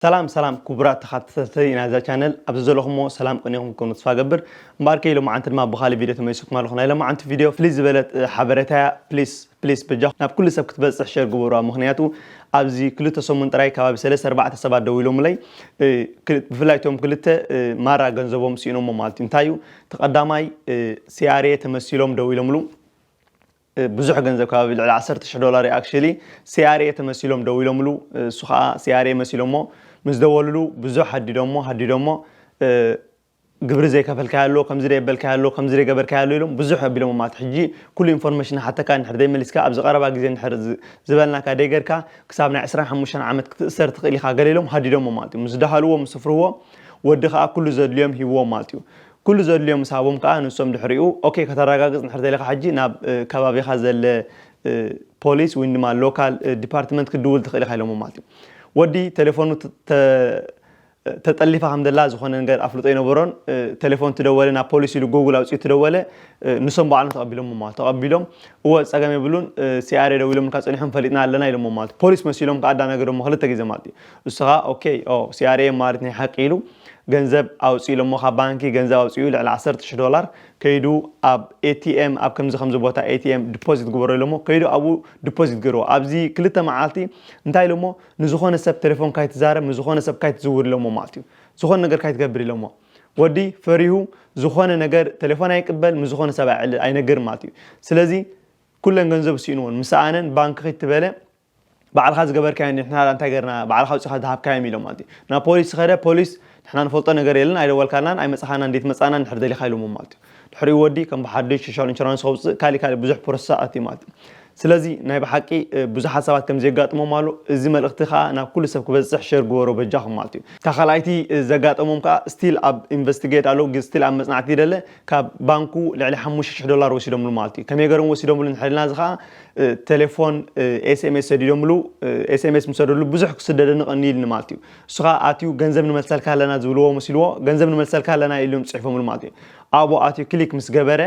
ሰላም ሰላም ኩቡራት ተኻተተቲ ናይዛ ቻነል ኣብዚ ዘለኹሞ ሰላም ቅንየኹም ክትኮኑ ተስፋ ገብር እምበኣርከይ ሎማዓንቲ ድማ ብኻልእ ቪድዮ ተመሊሰኩም ኣለኹ ናይ ሎማዓንቲ ቪድዮ ፍልይ ዝበለት ሓበሬታ እያ ፕሊስ ፕሊስ በጃኹም ናብ ኩሉ ሰብ ክትበጽሕ ሸር ግበሩዋ ምኽንያቱ ኣብዚ ክልተ ሰሙን ጥራይ ከባቢ ሰለስተ ኣርባዕተ ሰባት ደዊሎምለይ ብፍላይ እቶም ክልተ ማራ ገንዘቦም ስኢኖሞ ማለት እዩ እንታይ እዩ ተቀዳማይ ሲኣርኤ ተመሲሎም ደዊሎምሉ ብዙሕ ገንዘብ ከባቢ ልዕሊ ዓሰርተ ሽሕ ዶላር እዩ ኣክሽሊ ሲኣርኤ ተመሲሎም ደዊሎምሉ እሱ ከዓ ሲኣርኤ መሲሎሞ ምስ ደወልሉ ብዙሕ ሃዲዶሞ ሃዲዶሞ ግብሪ ዘይከፈልካዮ ኣሎ ከምዚ ደየበልካዮ ኣሎ ከምዚ ደይገበርካዮ ኣሎ ኢሎም ብዙሕ ኣቢሎሞ ማለት ሕጂ ኩሉ ኢንፎርሜሽን ንሓተካ እንድሕር ደይመሊስካ ኣብዚ ቀረባ ግዜ እንድሕር ዝበልናካ ደይገርካ ክሳብ ናይ ዕስራን ሓሙሽተን ዓመት ክትእሰር ትክእል ኢካ ገለ ኢሎም ሃዲዶሞ ማለት እዩ ምስ ደሃልዎ ምስ ስፍርዎ ወዲ ከዓ ኩሉ ዘድልዮም ሂብዎም ማለት እዩ ኩሉ ዘድልዮ ምስ ሃቦም ከኣ ንሶም ድሕሪኡ ኦኬ ከተራጋግጽ እንድሕር ደሊኻ ሕጂ ናብ ከባቢኻ ዘለ ፖሊስ ዊን ድማ ሎካል ዲፓርትመንት ክትድውል ትኽእል ኢኻ ኢሎሞ ማለት እዩ። ወዲ ተሌፎኑ ተ ተጠሊፋ ከም ዘላ ዝኾነ ነገር ኣፍልጦ ኣይነበሮን ተሌፎን እቲ ደወለ ናብ ፖሊስ ኢሉ ጎጉል ኣውጺኡ እቲ ደወለ ንሶም ባዕሎም ተቐቢሎሞ ማለት ተቐቢሎም እወ ጸገም የብሉን ሲኣርኤ ደዊሎምልካ ጸኒሖም ፈሊጥና ኣለና ኢሎሞ ማለት ፖሊስ መሲሎም ከኣ ኣዳናገዶሞ ክልተ ግዜ ማለት እዩ። ንስኻ ኦከይ ኦ ሲኣርኤም ማለት ናይ ሓቂ ኢሉ ገንዘብ ኣውጽ ኢሎሞ ካብ ባንኪ ገንዘብ ኣውጺኡ ልዕሊ ዓሰርተ ሽሕ ዶላር ከይዱ ኣብ ኤቲኤም ኣብ ከምዚ ከምዚ ቦታ ኤቲኤም ድፖዚት ግበሮ ኢሎሞ ከይዱ ኣብኡ ድፖዚት ገይርዎ ኣብዚ ክልተ መዓልቲ እንታይ ኢሎሞ ንዝኾነ ሰብ ቴሌፎን ካይትዛረብ ንዝኾነ ሰብ ካይትዝውር ኢሎሞ ማለት እዩ ዝኾነ ነገር ካይትገብር ኢሎሞ ወዲ ፈሪሁ ዝኾነ ነገር ቴሌፎን ኣይቅበል ምስ ዝኾነ ሰብ ኣይነግር ማለት እዩ ስለዚ ኩለን ገንዘቡ ሲእንዎን ምስ ኣነን ባንኪ ክይትበለ ባዕልኻ ዝገበርካዮ ንሕና ድኣ እንታይ ገርና ባዕልኻ ኣውጺኻ ዝሃብካዮም ኢሎም ማለት እዩ ናብ ፖሊስ ዝኸደ ፖሊስ ንሕና ንፈልጦ ነገር የለን ኣይደወልካልናን ኣይመጻኻናን እንዴት መጻና እንድሕር ደሊኻ ኢሎሞ ማለት እዩ ድሕሪኡ ወዲ ከም ብሓዱሽ ሶሻል ኢንሹራንስ ከውጽእ ካሊእ ካሊእ ብዙሕ ፕሮሰስ ኣትዩ ማለት እዩ ስለዚ ናይ ብሓቂ ብዙሓት ሰባት ከምዚ የጋጥሞም ኣሎ እዚ መልእኽቲ ከኣ ናብ ኩሉ ሰብ ክበጽሕ ሸር ግበሮ በጃኹም ማለት እዩ እታ ካልኣይቲ ዘጋጠሞም ከኣ ስቲል ኣብ ኢንቨስቲጌት ኣለዉ ስቲል ኣብ መጽናዕቲ ይደለ ካብ ባንኩ ልዕሊ ሓሙሽተ ሽሕ ዶላር ወሲዶምሉ ማለት እዩ። ከመይ ገሮም ወሲዶምሉ እንድሕሪልና እዚ ከኣ ቴሌፎን ኤስኤምኤስ ሰዲዶምሉ ኤስኤምኤስ ምስ ሰደድሉ ብዙሕ ክስደደኒ ቀንዩ ኢልኒ ማለት እዩ። እሱ ከኣ ኣትዩ ገንዘብ ንመልሰልካ ኣለና ዝብልዎ መሲልዎ ገንዘብ ንመልሰልካ ኣለና ኢልም ጽሒፎምሉ ማለት እዩ። ኣብኡ ኣትዩ ክሊክ ምስ ገበረ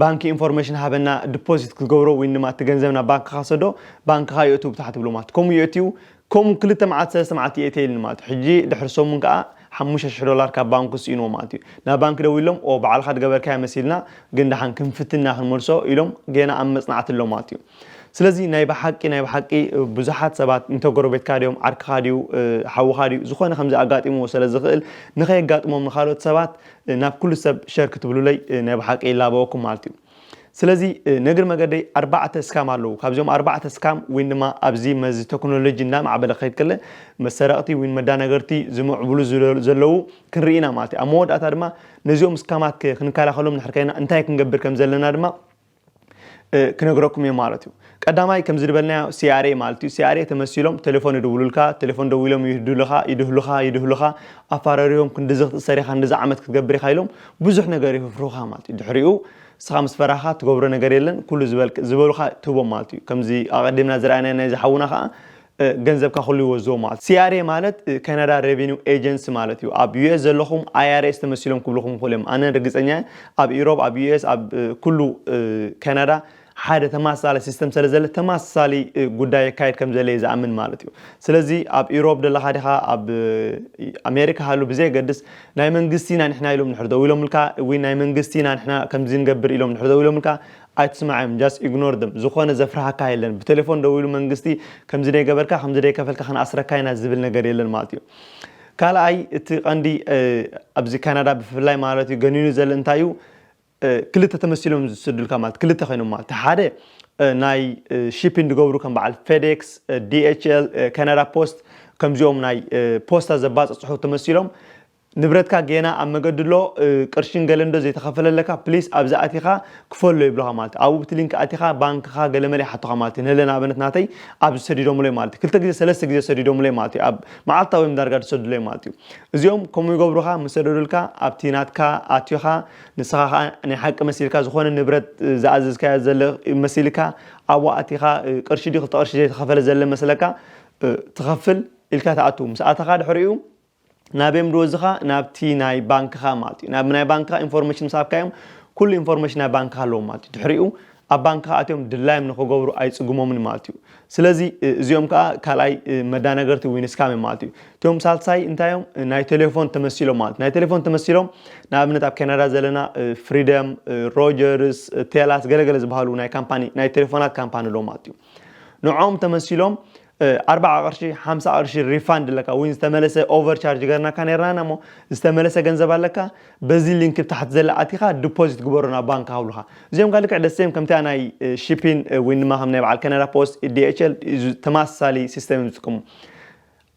ባንኪ ኢንፎርሜሽን ሃበና ድፖዚት ክትገብሮ ወይ ድማ እቲ ገንዘብ ናብ ባንክኻ ሰዶ ባንክኻ የእትው ብታሕቲ ብሎ ማለት ከምኡ የእትው ከምኡ ክልተ መዓልቲ ሰለስተ መዓልቲ የእትየልኒ ማለት እዩ ሕጂ ድሕሪ ሰሙን ከኣ ሓሙሽተ ሽሕ ዶላር ካብ ባንኩ ስኢንዎ ማለት እዩ ናብ ባንኪ ደዊሎም ኦው ባዕልካ ድገበርካዮ መሲልና ግን ደሓን ክንፍትን ኢና ክንመልሶ ኢሎም ጌና ኣብ መጽናዕቲ ኣሎ ማለት እዩ ስለዚ ናይ ብሓቂ ናይ ብሓቂ ብዙሓት ሰባት እንተ ጎረቤትካ ድዮም ዓርክካ ድዩ ሓውካ ድዩ ዝኮነ ከምዚ ኣጋጢምዎ ሰለ ዝክእል ንከየጋጥሞም ንካልኦት ሰባት ናብ ኩሉ ሰብ ሸር ክትብሉለይ ናይ ብሓቂ ይላበወኩም ማለት እዩ። ስለዚ ነግር መገደይ ኣርባዕተ እስካም ኣለዉ ካብዚኦም ኣርባዕተ እስካም ወይን ድማ ኣብዚ መዚ ቴክኖሎጂ እናማዕበለ ክኸይድ ከለ መሰረቕቲ ወይን መዳነገርቲ ዝምዕብሉ ዘለዉ ክንርኢ ኢና ማለት እዩ ኣብ መወዳእታ ድማ ነዚኦም እስካማት ክንከላኸሎም ንሕር ከይና እንታይ ክንገብር ከም ዘለና ድማ ክነግረኩም እየ ማለት እዩ ቀዳማይ ከምዚ ድበልናዮ CRA ማለት እዩ CRA ተመሲሎም ተሌፎን ይድውሉልካ ተሌፎን ደዊሎም ይህዱልኻ ይድህሉኻ ይድህሉኻ ኣፋረርዮም ክንድዚ ክትእሰር ኢኻ ክንድዚ ዓመት ክትገብር ኢኻ ኢሎም ብዙሕ ነገር ይህፍሩኻ ማለት እዩ ድሕሪኡ ንስኻ ምስ ፈራህኻ ትገብሮ ነገር የለን ኩሉ ዝበልክ ዝበሉኻ ትህቦም ማለት እዩ ከምዚ ኣቐዲምና ዝረኣናዮ ናይዚ ሓውና ኸኣ ገንዘብካ ኩሉ ይወዝዎ ማለት CRA ማለት Canada Revenue Agency ማለት እዩ ኣብ US ዘለኹም IRS ተመሲሎም ክብሉኹም ይኽእሉ እዮም ኣነ ርግጸኛ እየ ኣብ ኢሮብ ኣብ US ኣብ ኩሉ ካናዳ ሓደ ተማሳሊ ሲስተም ሰለዘለ ተማሳሊ ጉዳይ የካይድ ከምዘለየ ዝኣምን ማለት እዩ ስለዚ ኣብ ኢሮብ ደለካ ዲካ ኣብ ኣሜሪካ ሃሉ ብዘየገድስ ናይ መንግስቲ ኢና ንሕና ኢሎም ንሕር ደው ኢሎምልካ ወይ ናይ መንግስቲ ኢና ንሕና ከምዚ ንገብር ኢሎም ንሕር ደው ኢሎምልካ ኣይትስማዕዮም ጃስት ኢግኖር ደም ዝኮነ ዘፍርሃካ የለን ብቴሌፎን ደዊሉ መንግስቲ ከምዚ ደይገበርካ ከምዚ ደይከፈልካ ክንኣስረካ ኢና ዝብል ነገር የለን ማለት እዩ ካልኣይ እቲ ቀንዲ ኣብዚ ካናዳ ብፍላይ ማለት እዩ ገኒኑ ዘለ እንታይ እዩ ክልተ ተመሲሎም ዝስዱልካ ማለት ክልተ ኮይኖም ማለት እቲ ሓደ ናይ ሺፒን ዝገብሩ ከም በዓል ፌዴክስ ዲኤችኤል ካናዳ ፖስት ከምዚኦም ናይ ፖስታ ዘባፅፅሑ ተመሲሎም ንብረትካ ጌና ኣብ መገዲ ኣሎ ቅርሽን ገለንዶ ዘይተኸፈለለካ ፕሊስ ኣብዚ ኣቲኻ ክፈሎ ይብሉኻ ማለት ኣብኡ ብቲ ሊንክ ኣቲኻ ባንክኻ ገለመለ ይሓቱኻ ማለት እዩ ንለ ንኣብነት ናተይ ኣብዚ ሰዲዶምለይ ማለት እዩ ክልተ ግዜ ሰለስተ ግዜ ሰዲዶምለይ ማለት እዩ ኣብ መዓልታዊ እዮም ዳርጋ ዝሰዱለይ ማለት እዩ እዚኦም ከምኡ ይገብሩኻ ምሰደዱልካ ኣብቲ ናትካ ኣትዮኻ ንስኻ ከኣ ናይ ሓቂ መሲልካ ዝኾነ ንብረት ዝኣዘዝካዮ ዘለ መሲልካ ኣብኡ ኣቲኻ ቅርሺ ድዩ ክልተ ቅርሺ ዘይተኸፈለ ዘለ መስለካ ትኸፍል ኢልካ ትኣቱ ምስ ኣተኻ ድሕሪኡ ናበዮም ድወዝኻ ናብቲ ናይ ባንክኻ ማለት እዩ ናብ ናይ ባንክኻ ኢንፎርሜሽን ምስ ሃብካዮም ኩሉ ኢንፎርሜሽን ናይ ባንክኻ ኣለዎም ማለት እዩ ድሕሪኡ ኣብ ባንክኻ ኣትዮም ድላዮም ንኽገብሩ ኣይጽግሞምን ማለት እዩ። ስለዚ እዚኦም ከኣ ካልኣይ መዳናገርቲ ዊን ስካም እዮም ማለት እዩ። እቶም ሳልሳይ እንታይ እዮም? ናይ ቴሌፎን ተመሲሎም ማለት ናይ ቴሌፎን ተመሲሎም ንኣብነት ኣብ ካናዳ ዘለና ፍሪደም፣ ሮጀርስ፣ ቴላስ ገለገለ ዝበሃሉ ናይ ካምፓኒ ናይ ቴሌፎናት ካምፓኒ ኣሎ ማለት እዩ። ንዕኦም ተመሲሎም ኣርባዓ ቅርሺ ሓምሳ ቅርሺ ሪፋንድ ኣለካ ወይ ዝተመለሰ ኦቨር ቻርጅ ገርናካ ነርና እና እሞ ዝተመለሰ ገንዘብ ኣለካ በዚ ሊንክ ብታሕቲ ዘላ ኣቲካ ዲፖዚት ግበሮ ናብ ባንክ ሃብሉካ እዚኦም ጋር ልክዕ ደሴም ከምቲኣ ናይ ሺፒን ወይ ድማ ከም ናይ በዓል ከነዳ ፖስት ዲኤችኤል ተመሳሳሊ ሲስተም እዮም ዝጥቀሙ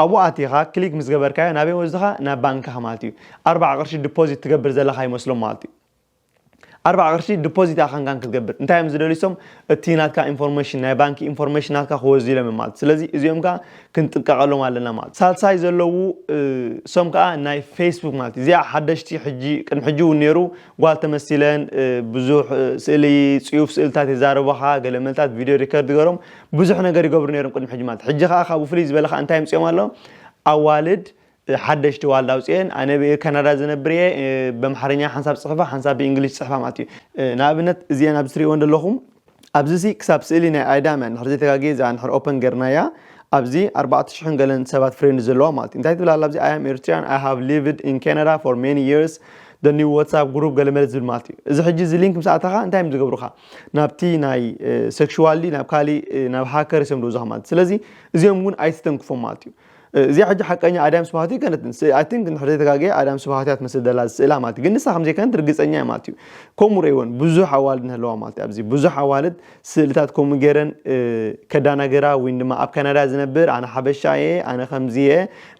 ኣብኡ ኣቲኻ ክሊክ ምስ ገበርካዮ ናበይ ወስድኻ ናብ ባንክኻ ማለት እዩ ኣርባዓ ቅርሺ ዲፖዚት ትገብር ዘለካ ይመስሎም ማለት እዩ ኣርባዕ ቅርሺ ድፖዚት ኣካንካን ክትገብር እንታይ እዮም ዝደልዩ እሶም እቲ ናትካ ኢንፎርሜሽን ናይ ባንኪ ኢንፎርሜሽን ናትካ ክወዙ ኢሎም እዮም ማለት ስለዚ እዚኦም ከዓ ክንጥንቀቀሎም ኣለና ማለት ሳልሳይ ዘለዉ እሶም ከዓ ናይ ፌስቡክ ማለት እዩ እዚኣ ሓደሽቲ ሕጂ ቅድሚ ሕጂ እውን ነይሩ ጓል ተመሲለን ብዙሕ ስእሊ ፅዩፍ ስእልታት የዛርባኻ ገለ መልታት ቪድዮ ሪከርድ ገሮም ብዙሕ ነገር ይገብሩ ነይሮም ቅድሚ ሕጂ ማለት ሕጂ ከዓ ካብኡ ፍልይ ዝበለ ከዓ እንታይ ኣምፅኦም ኣሎ ኣዋልድ ሓደሽቲ ዋልድ ኣውጺኤን ኣነ ብ ካናዳ ዝነብር ኢየ ብ ኣምሓርኛ ሓንሳብ ጽሕፋ ሓንሳብ ብ እንግሊሽ ጽሕፋ ማለት ኢዩ ን ኣብነት እዚኤን ኣብዚ ትርእይወን ዘለኹም ኣብዚ ሲ ክሳብ ስእሊ ናይ ኣዳም ኢያ እንድሕር ዘይተጋግየ እዚኣ እንድሕር ኦፐን ገርናያ ኣብዚ ኣርባዕተ ሽሕን ገለን ሰባት ፍሬንድ ዘለዋ ማለት ኢዩ እንታይ ትብል ኣላ ኣብዚ ኣይ ኣም ኤርትሪያን ኣይ ሃቭ ሊቭድ ኢን ካናዳ ፎር ሜኒ ይርስ the new WhatsApp group ገለ መለ ዝብል ማለት እዩ እዚ ሕጂ እዚ ሊንክ ምስ ኣተኻ እንታይ እዮም ዝገብሩኻ ናብቲ ናይ ሴክሹዋሊ ናብ ካሊእ ናብ ሃከርስ እዮም ዝወስዱኻ ማለት እዩ ስለዚ እዚኦም እውን ኣይትተንክፎም ማለት እዩ እዚኣ ሕጂ ሓቀኛ ኣዳም ስብሃቱ ይከነት ምስ ኣይ ቲንክ እንድሕር ዘይተጋገየ ኣዳም ስብሃቱ እያ ትመስል ዘላ ስእላ ማለት እዩ ግን ንሳ ከም ዘይከነት ርግጸኛ እየ ማለት እዩ ከምኡ ረይወን ብዙሕ ኣዋልድ ንህለዋ ማለት እዩ ኣብዚ ብዙሕ ኣዋልድ ስእልታት ከምኡ ገይረን ከዳናገራ ወይ ድማ ኣብ ካናዳ ዝነብር ኣነ ሓበሻ እየ ኣነ ከምዚ እየ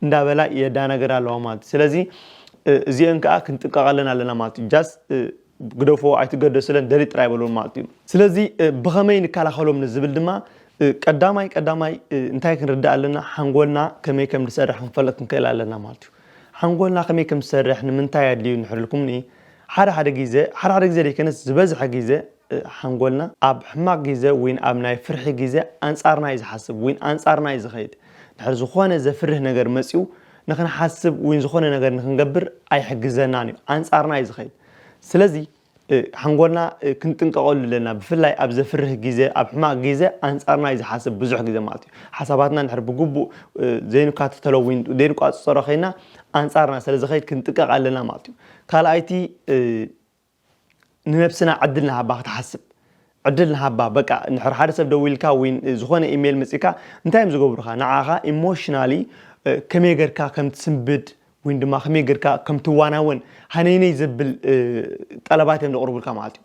እንዳበላ የዳናገራ ኣለዋ ማለት እዩ ስለዚ እዚአን ከዓ ክንጥንቀቃለን ኣለና ማለት እዩ ጃስ ግደፎ ኣይትገደስለን ደልይ ጥራይ በልወን ማለት እዩ። ስለዚ ብኸመይ ንከላኸሎም ንዝብል ድማ ቀዳማይ ቀዳማይ እንታይ ክንርዳእ ኣለና ሓንጎልና ከመይ ከም ዝሰርሕ ክንፈልጥ ክንክእል ኣለና ማለት እዩ። ሓንጎልና ከመይ ከም ዝሰርሕ ንምንታይ ኣድልዩ እንድሕር ኢልኩምኒ ሓደ ሓደ ግዜ ሓደ ሓደ ግዜ ዘይከነስ ዝበዝሐ ግዜ ሓንጎልና ኣብ ሕማቕ ግዜ ዊን ኣብ ናይ ፍርሒ ግዜ ኣንጻርና እዩ ዝሓስብ ዊን ኣንጻርና እዩ ዝኸይድ። ድሕር ዝኾነ ዘፍርህ ነገር መጺኡ ንኽንሓስብ ወይ ዝኾነ ነገር ንኽንገብር ኣይሕግዘናን እዩ። ኣንጻርና እዩ ዝኸይድ። ስለዚ ሓንጎልና ክንጥንቀቐሉ ኣለና። ብፍላይ ኣብ ዘፍርህ ግዜ፣ ኣብ ሕማቕ ግዜ ኣንጻርና እዩ ዝሓስብ ብዙሕ ግዜ ማለት እዩ። ሓሳባትና እንድሕር ብግቡእ ዘይንካተተሎ ወይ ዘይንቋጽጸሮ ከይና ኣንጻርና ስለ ዝኸይድ ክንጥቀቕ ኣለና ማለት እዩ። ካልኣይቲ ንነብስና ዕድል ንሃባ ክትሓስብ ዕድል ንሃባ በቃ ንሕር ሓደ ሰብ ደዊልካ ወይ ዝኾነ ኢሜይል መጺካ እንታይ እዮም ዝገብሩኻ ንዓኻ ኢሞሽናሊ ከመይ ጌርካ ከም ትስንብድ ወይ ድማ ከመይ ጌርካ ከም ትዋናወን ሃነይነይ ዘብል ጠለባት እዮም ዘቕርቡልካ ማለት እዩ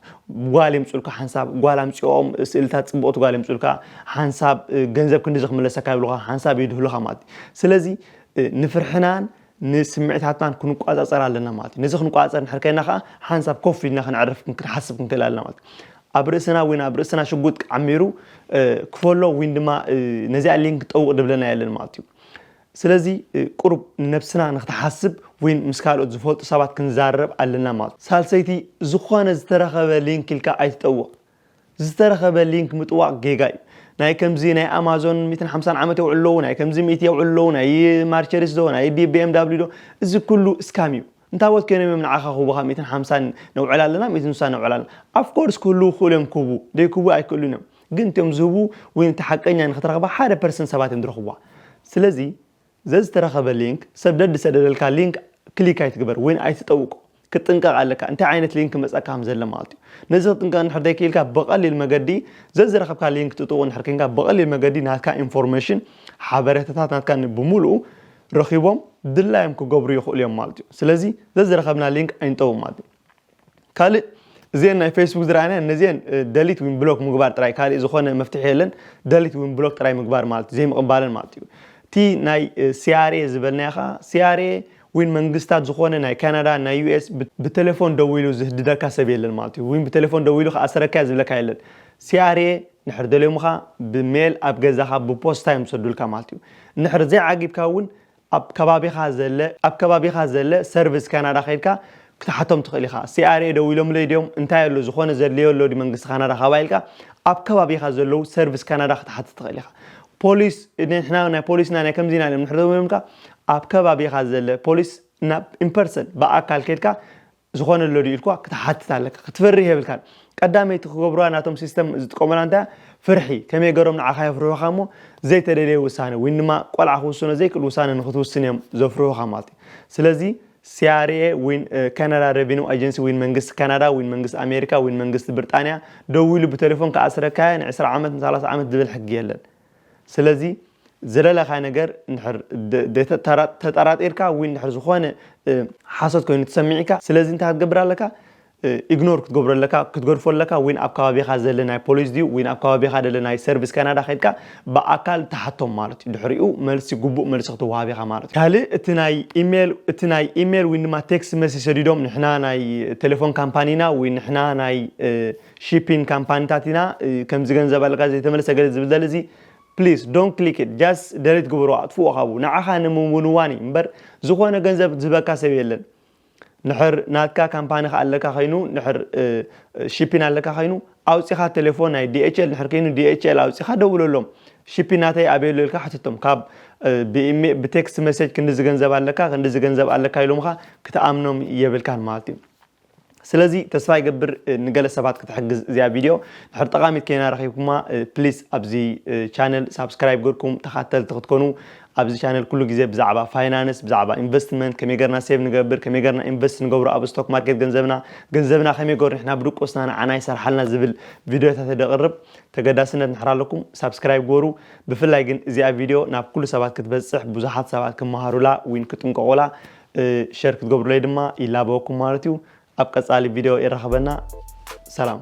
ጓል የምፅኡልካ ሓንሳብ ጓል ኣምፅኦም ስእልታት ፅቡቕቲ ጓል የምፅኡልካ ሓንሳብ ገንዘብ ክንዲ ዝክምለሰካ ይብሉኻ ሓንሳብ ይድህሉኻ ማለት እዩ ስለዚ ንፍርሕናን ንስምዒታትናን ክንቋጻጸር ኣለና ማለት እዩ። ነዚ ክንቋጻጸር እንድሕር ከይና ከኣ ሓንሳብ ኮፍ ኢልና ክንዕርፍ ክንሓስብ ክንክእል ኣለና ማለት እዩ። ኣብ ርእስና ዊን ኣብ ርእስና ሽጉጥ ዓሚሩ ክፈሎ ዊን ድማ ነዚኣ ሊንክ ጠውቕ ድብለና የለን ማለት እዩ። ስለዚ ቁሩብ ንነብስና ንክትሓስብ ዊን ምስ ካልኦት ዝፈልጡ ሰባት ክንዛረብ ኣለና ማለት እዩ። ሳልሰይቲ ዝኾነ ዝተረኸበ ሊንክ ኢልካ ኣይትጠውቕ። ዝተረኸበ ሊንክ ምጥዋቅ ጌጋ እዩ ናይ ከምዚ ናይ ኣማዞን ሚትን ሓምሳን ዓመት የውዕሉ ኣለዉ ናይ ከምዚ ሚእቲ የውዕሉ ኣለዉ ናይ ማርቸሪስ ዶ ናይ ቢኤም ዳብሊዩ ዶ እዚ ኩሉ እስካም እዩ እንታቦት ኮይኖም እዮም ንዓኻ ክህቡኻ ሚትን ሓምሳን ነውዕል ኣለና ሚትን ስሳን ነውዕል ኣለና ኣፍኮርስ ክህልዉ ክኽእሉ እዮም ክህቡ ደይክህቡ ኣይክእሉን እዮም ግን እትዮም ዝህቡ ወይ እቲ ሓቀኛ ንክትረኽባ ሓደ ፐርሰንት ሰባት እዮም ዝረኽብዋ ስለዚ ዘዝተረኸበ ሊንክ ሰደድ ዝሰደደልካ ሊንክ ክሊክ ኣይትግበር ወይ ኣይትጠውቆ ክትጥንቀቅ ኣለካ እንታይ ዓይነት ሊንክ ክመጸካ ከም ዘለ ማለት እዩ ነዚ ክትጥንቀቅ እንድሕር ዘይኪኢልካ ብቀሊል መገዲ ዘዝረኸብካ ሊንክ ጥጡቁ እንድሕር ኬንካ ብቀሊል መገዲ ናትካ ኢንፎርመሽን ሓበሬታታት ናትካ ን ብሙሉኡ ረኺቦም ድላዮም ክገብሩ ይኽእሉ እዮም ማለት እዩ ስለዚ ዘዝረኸብና ሊንክ ኣይንጠውቅ ማለት እዩ። ካልእ እዚኤን ናይ ፌስቡክ ዝረኣናየን ነዚኤን ደሊት ዊን ብሎክ ምግባር ጥራይ ካልእ ዝኾነ መፍትሒ የለን ደሊት ዊን ብሎክ ጥራይ ምግባር ማለት ዘይምቕባለን ማለት እዩ እቲ ናይ ሲያሬ ዝበልናዮ ኸኣ ሲያሬ ዊን መንግስታት ዝኾነ ናይ ካናዳ ናይ ዩኤስ ብቴሌፎን ደዊሉ ዝህድደካ ሰብ የለን ማለት እዩ ዊን ብቴሌፎን ደዊሉ ክኣሰረካ ዝብለካ የለን ሲያሬ ንሕር ደልዮምኻ ብሜል ኣብ ገዛኻ ብፖስታ እዮም ዝሰዱልካ ማለት እዩ ንሕር ዘይዓጊብካ እውን ኣብ ከባቢኻ ዘለ ኣብ ከባቢኻ ዘለ ሰርቪስ ካናዳ ከይድካ ክትሓቶም ትኽእል ኢኻ። CRA ደዊሎምለይ ድዮም እንታይ ኣሎ ዝኾነ ዘድልዮ ኣሎ ድዩ መንግስቲ ካናዳ ካባይ ኢልካ ኣብ ከባቢኻ ዘለዉ ሰርቪስ ካናዳ ክትሓትት ትኽእል ኢኻ። ፖሊስ ንሕና ናይ ፖሊስ ኢና ናይ ከምዚ ኢና ኢሎም እንድሕሪ ደዊሎምልካ ኣብ ከባቢኻ ዘለ ፖሊስ ናብ ኢምፐርሰን ብኣካል ከይድካ ዝኾነ ኣሎ ድዩ ኢልካ ክትሓትት ኣለካ ክትፈርህ የብልካን ቀዳመይቲ ክገብሩዋ ናቶም ሲስተም ዝጥቀሙላ እንታይ ፍርሒ ከመይ ገሮም ንዓኻ የፍርሑኻ እሞ ዘይተደለየ ውሳነ ወይ ድማ ቆልዓ ክውስኖ ዘይክእል ውሳነ ንክትውስን እዮም ዘፍርሑኻ ማለት እዩ ስለዚ ሲያርኤ ዊን ካናዳ ሬቪኒው ኣጀንሲ ዊን መንግስቲ ካናዳ ዊን መንግስቲ ኣሜሪካ ዊን መንግስቲ ብርጣንያ ደዊሉ ብቴሌፎን ክኣስረካያ ን20 ዓመት ን30 ዓመት ዝብል ሕጊ የለን ስለዚ ዝደለኻዮ ነገር እንድሕር ተጠራጢርካ ወይ እንድሕር ዝኾነ ሓሶት ኮይኑ ተሰሚዕካ ስለዚ እንታይ ክትገብር ኣለካ ኢግኖር ክትገብሮ ኣለካ ክትገድፎ ኣለካ ወይ ኣብ ከባቢኻ ዘለ ናይ ፖሊስ ድዩ ወይ ኣብ ከባቢኻ ደለ ናይ ሰርቪስ ካናዳ ከድካ ብኣካል ትሓቶም ማለት እዩ ድሕሪኡ መልሲ ግቡእ መልሲ ክትወሃብ ኢኻ ማለት እዩ ካልእ እቲ ናይ ኢሜል እቲ ናይ ኢሜል ወይ ድማ ቴክስት መልሲ ሰዲዶም ንሕና ናይ ቴሌፎን ካምፓኒና ወይ ንሕና ናይ ሺፒንግ ካምፓኒታት ኢና ከምዚ ገንዘብ ኣለካ ዘይተመለሰ ገለ ዝብል ዘለ እዚ please don't click it just delete ግበሮ ኣጥፍኦ ካብኡ ንዓኻ ንምውንዋን እዩ እምበር ዝኾነ ገንዘብ ዝህበካ ሰብ የለን ንሕር ናትካ ካምፓኒ ከ ኣለካ ከይኑ ንሕር ሺፒን ኣለካ ከይኑ ኣውፂኻ ቴሌፎን ናይ ዲኤችኤል ንሕር ከይኑ ዲኤችኤል ኣውፂኻ ደውለሎም ሺፒን ናተይ ኣበየሎ ኢልካ ሕትቶም ካብ ብቴክስት መሴጅ ክንዲዚ ገንዘብ ኣለካ ክንዲዚ ገንዘብ ኣለካ ኢሎምኻ ክትኣምኖም የብልካን ማለት እዩ ስለዚ ተስፋ ይገብር ንገለ ሰባት ክትሕግዝ እዚኣ ቪድዮ ድሕር ጠቃሚት ከይና ረኺብኩማ ፕሊስ ኣብዚ ቻነል ሳብስክራይብ ገርኩም ተኻተልቲ ክትኮኑ ኣብዚ ቻነል ኩሉ ግዜ ብዛዕባ ፋይናንስ ብዛዕባ ኢንቨስትመንት ከመይ ገርና ሴቭ ንገብር ከመይ ገርና ኢንቨስት ንገብሮ ኣብ ስቶክ ማርኬት ገንዘብና ገንዘብና ከመይ ገሩ ንሕና ብድቆስና ንዓና ይሰርሓልና ዝብል ቪድዮታት ደቕርብ ተገዳስነት ንሕር ኣለኩም ሳብስክራይብ ግበሩ ብፍላይ ግን እዚኣ ቪድዮ ናብ ኩሉ ሰባት ክትበፅሕ ብዙሓት ሰባት ክመሃሩላ ዊን ክጥንቀቑላ ሸር ክትገብሩለይ ድማ ይላበወኩም ማለት እዩ ኣብ ቀፃሊ ቪድዮ የራኽበና ሰላም